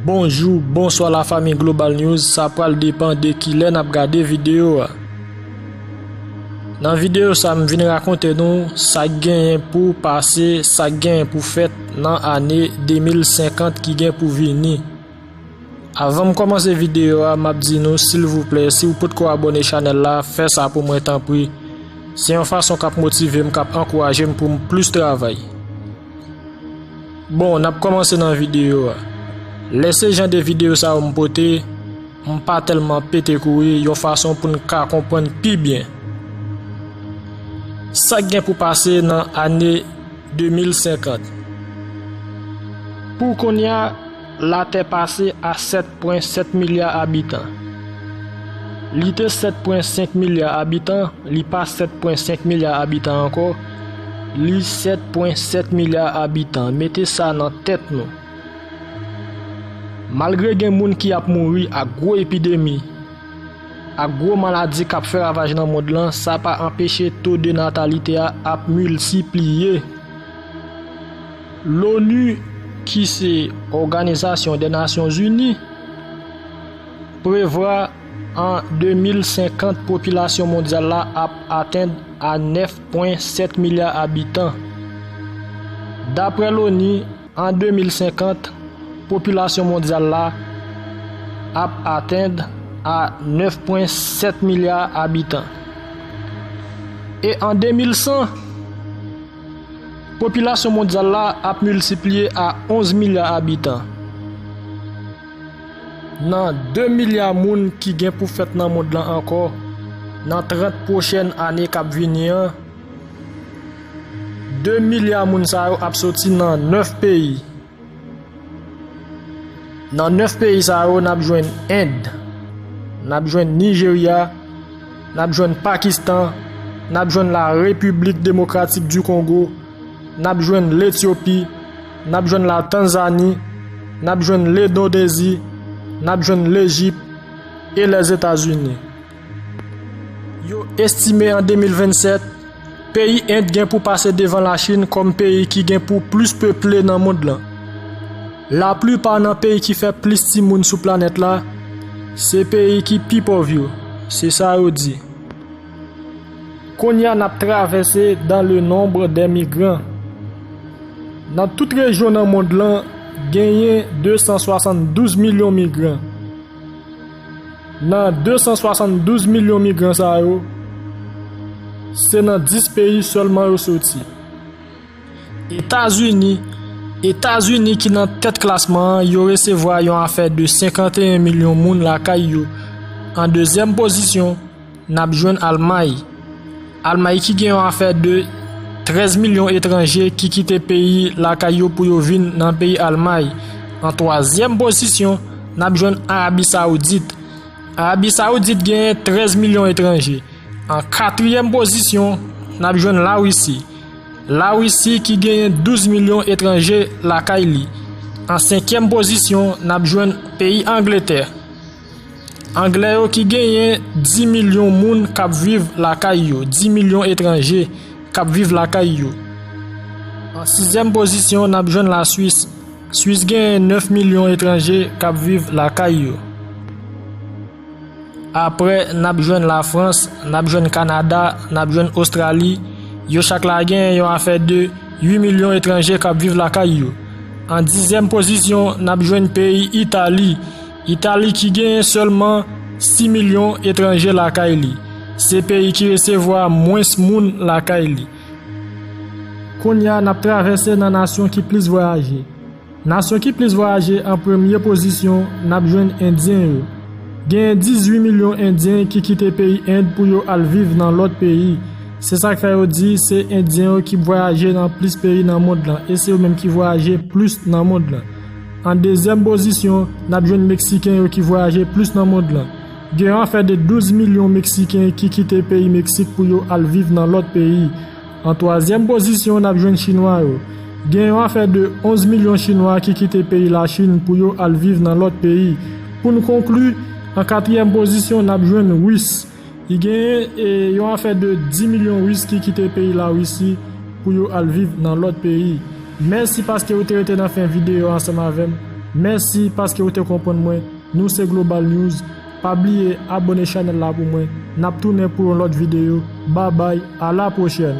Bonjou, bonswa la fami Global News, sa pral depan de kilè nap gade videyo a. Nan videyo sa m vin rakonte nou sak genyen pou pase, sak genyen pou fèt nan ane 2050 ki gen pou vini. Avan m kòmanse videyo a, map di nou silvouplè si ou potko abone chanèl la, fè sa pou mwen tanpri. Se yon fason kap motive m, kap ankouraje m pou m plis travay. Bon nap komanse nan video a Lè se jan de video sa yo m pote m pa tèlman pete kouri yon fason pou n ka konprann pi byen Sak gen pou pase nan ane 2050 Pou kounya Latè pase a 7 pwen 7 milya abitan. Li te 7 pwen 5 milya abitan, li pa 7 pwen 5 milya abitan ankò, li 7 pwen 7 milya abitan. Mete sa nan tèt nou. Malgre gen moun ki ap mouri ak gwo epidemi, ak gwo maladi k ap fè ravaj nan mond lan, sa pa anpeche to de natalite a ap miltipliye. L'ONU ki se Òganizasyon dè Nasyon Zini prevwa an 2050 popilasyon mondyal la ap atenn a 9.7 milya abitan. Daprè l'ONU, an 2050, popilasyon mondyal la ap atenn a 9.7 milya abitan. E an 2100? Popilasyon mondyal la ap miltipliye a 11 milya abitan. Nan 2 milya moun ki gen pou fèt nan mond lan ankò nan 30 pwochèn ane k ap vini an, 2 milya moun sa yo ap soti nan 9 peyi. Nan 9 peyi sa yo nap jwenn End, nap jwenn Nijerya, nap jwenn Pakistan, nap jwenn La Repiblik Demokratik di Kongo, nap jwenn Letyopi, nap jwenn La Tanzani, nap jwenn Ledondezi, nap jwenn Lejip e Lèzetazini. Yo estime an 2027, peyi End gen pou pase devan Lachin kòm peyi ki gen pou plis peple nan mond lan. Laplipa nan peyi ki fè plis timoun sou planèt la, se peyi ki pi pòv yo, se sa yo di. Kounye a n ap travèse dans le nombre des migrants. Nan tout rejyon nan mond lan, genyen 272 milyon migran. Nan 272 milyon migran sa yo, se nan 10 peyi sèlman yo soti. Etazini, Etazini ki nan tèt klasman an, yo resevwa yon afè de 51 milyon moun lakay yo. An dezyèm pozisyon, N ap jwenn Almay. Almay ki gen yon afè de 13 milyon etranje ki kite peyi lakay yo pou yo vin nan peyi Almay. An twazyèm pozisyon, n ap jwenn Arabi Saoudit. Arabi Saoudit genyen 13 milyon etranje. An katriyèm pozisyon, n ap jwenn Larisi. Larisi ki genyen 12 milyon etranje lakay li. An senkyèm pozisyon, n ap jwenn peyi Angletè. Anglè yo ki genyen 10 milyon moun k ap viv lakay yo, 10 milyon etranje k ap viv lakay yo. An sizyèm pozisyon n ap jwenn Laswis, Swis genyen 9 milyon etranje k ap viv lakay yo. Aprè n ap jwenn Lafrans, n ap jwenn Kanada, n ap jwenn Ostrali, yo chak la genyen yon afè de 8 milyon etranje k ap viv lakay yo. An dizyèm pozisyon n ap jwenn peyi Itali, Itali ki genyen sèlman 6 milyon etranje lakay li, se peyi ki resevwa mwens moun lakay li. Kounye a n ap travèse nan nasyon ki plis vwayaje. Nasyon ki plis vwayaje an premye pozisyon n ap jwenn endyen yo. Genyen 18 milyon endyen ki kite peyi End pou yo al viv nan lòt peyi. Se sa k fè yo di se endyen yo ki vwayaje nan plis peyi nan mond lan e se yo menm ki vwayaje plis nan mond lan. An dezyèm pozisyon, n ap jwenn Meksiken yo ki vwayaje plis nan mond lan. Gen afè de 12 milyon Meksiken ki kite peyi Meksik pou yo al viv nan lòt peyi. An twazyèm pozisyon, n ap jwenn Chinwa yo. Gen yon afè de 11 milyon Chinwa ki kite peyi Lachin pou yo al viv nan lòt peyi. Pou n konkli, an katriyèm pozisyon, n ap jwenn Ris. Li genyen yon afè de 10 milyon Ris ki kite peyi Larisi pou yo al viv nan lòt peyi. Mèsi paske ou te rete nan fen videyo ansanm avè m. Mèsi paske ou te konprann mwen. Nou se Global News. Pa bliye abone chanèl la pou mwen. N ap tounen pou yon lòt videyo. Babay, a la pwochèn!